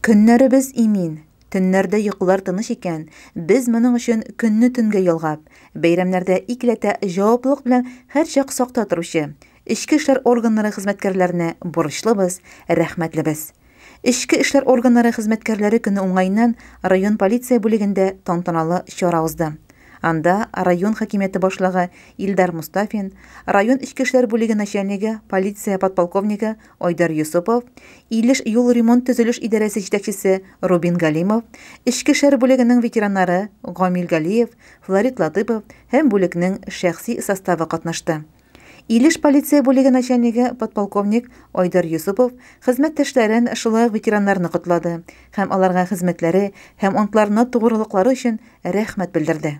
Көннәребез имин, төннәрдә йокылар тыныч икән, без моның өчен көнне төнгә ялгап, бәйрәмнәрдә икеләтә җаваплылык белән һәрчак сакта торучы эчке эшләр органнары хезмәткәрләренә бурычлыбыз, рәхмәтлебез. Эчке эшләр органнары хезмәткәрләре көне уңаеннан район полиция бүлегендә тантаналы чара узды. Анда район хакимияте башлыгы Илдар Мостафин, район эчке эшләр бүлеге начальнигы, полиция подполковнигы Айдар Йосыпов, Илеш юл ремонт-төзелеш идарәсе җитәкчесе Рубин Галимов, эчке эшләр бүлегенең ветераннары Гамил Галиев, Флорид Латыпов һәм бүлекнең шәхси составы катнашты. Илеш полиция бүлеге начальнигы подполковник Айдар Йосыпов хезмәттәшләрен, шулай ук ветераннарны котлады һәм аларга хезмәтләре һәм антларына тугрылыклары өчен рәхмәт белдерде.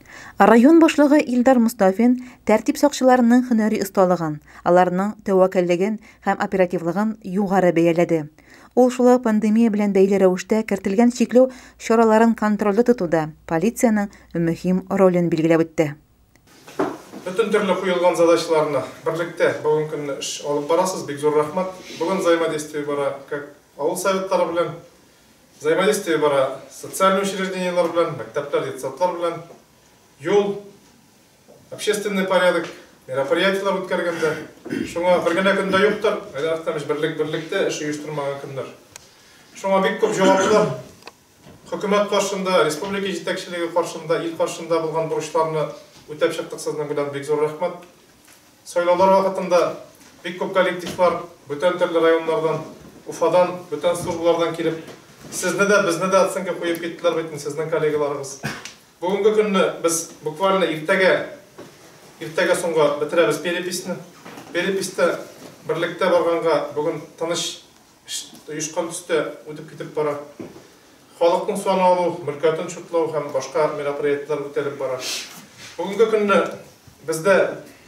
Район башлыгы Илдар Мостафин тәртип сакчыларының һөнәри осталыгын, аларның тәвәккәллеген һәм оперативлыгын югары бәяләде. Ул шулай пандемия белән бәйле рәвештә кертелгән чикләү чараларын контрольдә тотуда полициянең мөһим ролен билгеләп үтте. Бөтен төрле куелган задачаларны берлектә бүген көнне эш алып барасыз, бик зур рәхмәт. Бүген взаимодействие бара как авыл советлары белән, Взаимодействие бара социальный учреждениеләр белән, мәктәпләр, детсадлар белән, юл, общественный порядок, мероприятиеләр үткәргәндә. Шуңа бер генә көндә юктыр, Айдар Әхтәмович, берлек берлектә эш оештырмаган көннәр. Шуңа бик күп җаваплар хөкүмәт каршында, республика җитәкчелеге каршында, ил каршында булган бурычларны үтәп чыктык сезнең белән, бик зур рәхмәт. Сайлаулар вакытында бик күп коллективлар бүтән төрле районнардан, Уфадан, бүтән службалардан килеп, сезне дә, безне дә оценка куеп киттеләр бит инде сезнең коллегаларыгыз. Бүгенге көнне без буквально иртәгә, иртәгә соңга бетерәбез переписьне. Переписьтә берлектә барганга бүген тыныч. оешкан төстә үтеп китеп бара. Халыкның сан алу, мөлкәтен чутлау һәм башка мероприятиеләр үтәлеп бара. Бүгенге көнне бездә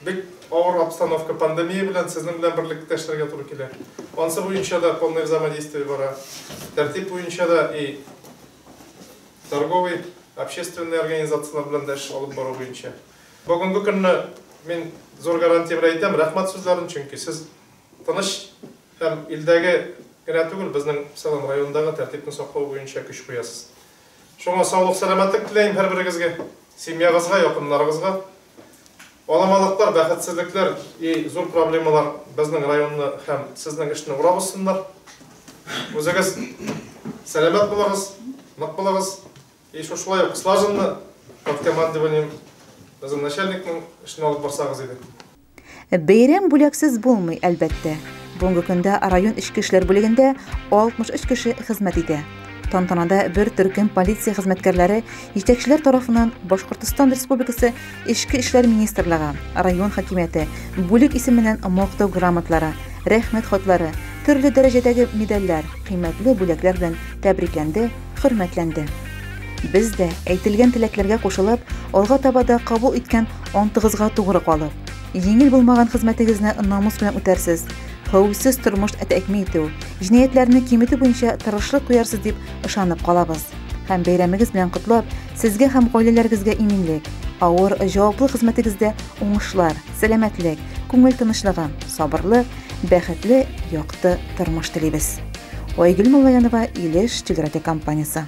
бик авыр обстановка, пандемия белән сезнең белән берлектә эшләргә туры килә. Ансы буенча да полное взаимодействие бара. Тәртип буенча да и торговый, общественный организацияләр белән дә эш алып бару буенча. Бүгенге көнне мин зур гарантия белән әйтәм, рәхмәт сүзләрен, чөнки сез тыныч Һәм илдәге генә түгел, безнең Салам районындагы тәртипне саклау буенча көч куясыз. Шуңа саулык-сәламәтлек теләйм һәрберегезгә, семьягызга, якыннарыгызга. Аламалыклар, бәхетсезлекләр и зур проблемалар безнең районны һәм сезнең эшне урап узсыннар. Үзегез сәламәт булыгыз, нык булыгыз и шушылай ук слаженно, под командованием безнең начальникның эшне алып барсагыз иде. Бәйрәм бүләксез булмый, әлбәттә. Бүгенге көндә район эчке эшләр бүлегендә 63 кеше хезмәт итә. Тантанада бер төркем полиция хезмәткәрләре җитәкчеләр тарафыннан Башкортостан Республикасы Эчке эшләр министрлыгы, район хакимияте, бүлек исеменнән мактау грамотлары, рәхмәт хатлары, төрле дәрәҗәдәге медальләр, кыйммәтле бүләкләр белән тәбрикләнде хөрмәтләнде. Без дә, әйтелгән теләкләргә кушылып, алга таба да кабул иткән антыгызга тугры калып, җиңел булмаган хезмәтегезне намус белән үтәрсез, хәвефсез тормыш тәэмин итү, җинаятьләрне киметү буенча тырышлык куярсыз дип ышанып калабыз һәм бәйрәмегез белән котлап, сезгә һәм гаиләләрегезгә иминлек, авыр, җаваплы хезмәтегездә уңышлар, сәламәтлек, күңел тынычлыгы, сабырлык Бәхетле, якты тормыш телибез. Айгөл Муллаянова, Илеш телерадиокомпаниясе.